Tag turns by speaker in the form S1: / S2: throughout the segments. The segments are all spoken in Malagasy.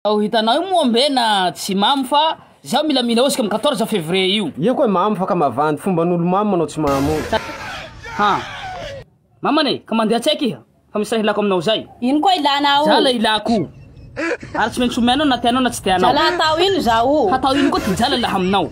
S1: Ao hitanao io moa mbe na tsy mamo fa zaho mila mila osika am quatorze fevrier io. Ia koa mamo fa ka mavandy
S2: fomban'olo mamo manao tsy mamo io. Ha!
S1: Maman e! Ka mandeha tsaiky iha fa misy raha ilako aminao zay. Ino koa ilana ao?
S3: Jala ilako
S1: ary tsy maintsy omenao na tianao na tsy tianao. Jala hatao ino izaho?
S3: Hatao ino koa ty jala
S1: laha aminao?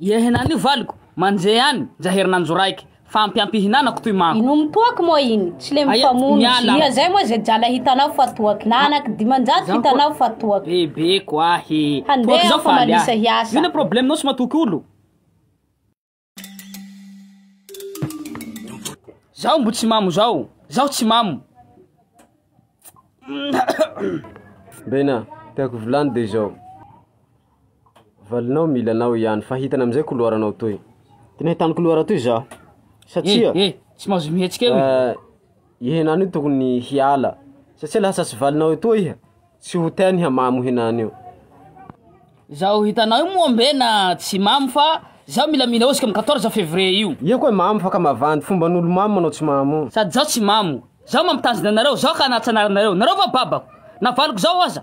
S1: Ie henan'io valiko, manjehy any, ndra herinandro raiky, fa ampy ampy ihinanako toy manko. Inomy toaky moa iny,
S3: tsy le mifamono, miala. Ia zay moa ze jala hitanao fa toaky, na anaky dimanjato hitanao fa toaky. Bebeko ahy e.
S1: Handeha aho fa malisa
S3: hiasa. Ino problemenao tsy matoky
S1: olo? Zaho mbo tsy mamo zao, zaho tsy mamo.
S2: Bena, tiako volano de zao. Valinao mila anao ihany fa hitany amizay koloaranao toy. Tena hitany koloara toy zaho. Satsia. Eh, eh, tsy mahazo
S1: mihetsika eo. Eh, ihenany io
S2: tokony hiala. Satsia lasa tsy valinao etoa iha. Tsy ho teny hamamo henany io.
S1: Zao hitanao io moa mbe na tsy mamo fa zao mila mila osika amin'ny 14 février io. Iha koa mamo fa ka mavandy
S2: fomban'olo mamo manao tsy mamo. Sady zao tsy mamo.
S1: Zao mampitazona anareo, zao ka nahatsanarina nareo. Nareo va babako? Navaliko zao aza.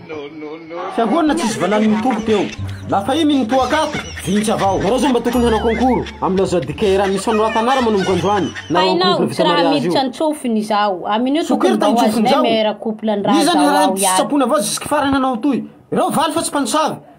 S2: Fiangonana tsisy valany mitoby teo. Lafaimy ny toaka ato, vintsy avao. Nareo zao mba tokony hanao concours am Lazao Dikera misy fanorata anara manomboka androany. Nareo
S3: am couple vita mariage io. Soker tany tsofin-jaho. Iza ny harany tsy sitrapony avao jusque
S2: farany anao toy. Ireo valy fa tsy mpanosavy.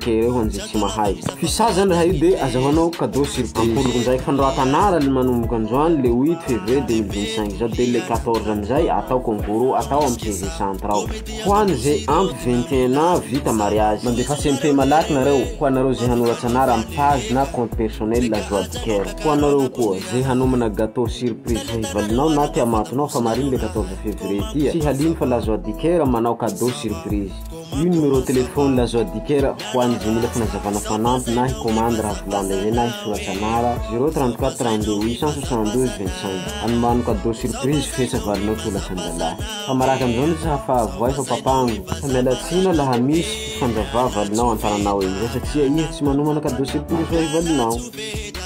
S2: Dia ireo anjy tsy mahay. Fisa zany raha io dia aza manao cadeau surprise. Ampoloko ndraiky fanoratana anarany manomboka androany le 8 février 2025 izao dia le 14 amizay atao concours atao am CV centre ao. Ho any ze ampy 21 ans vita mariage. Mandefa CMP malaky nareo ho anareo ze hanoratsa anara am page na compte personnel la joie du coeur. Ho anareo koa ze hanomana gateau surprise ho hivalinao na te amatonao fa marigny le 14 février ty a. Tsy halino fa la joie du coeur manao cadeau surprise. Io numéro téléphone azo adikera ho an'ny izay mila fanazavana fanampy na hikomandy raha volan'ilay hoe na hisoratra anara zéro trente quatre trente deux huit cent soixante douze vingt cinq anomano cadeau surprise ho fetra valinao toa lasan-dalahy fa maraka an'izao ny tsy hahafahavoay fa papango fa miala tsiny laha misy fifandravavalinao an-tananao eo satria izy tsy manomana cadeau surprise ho an'ny valinao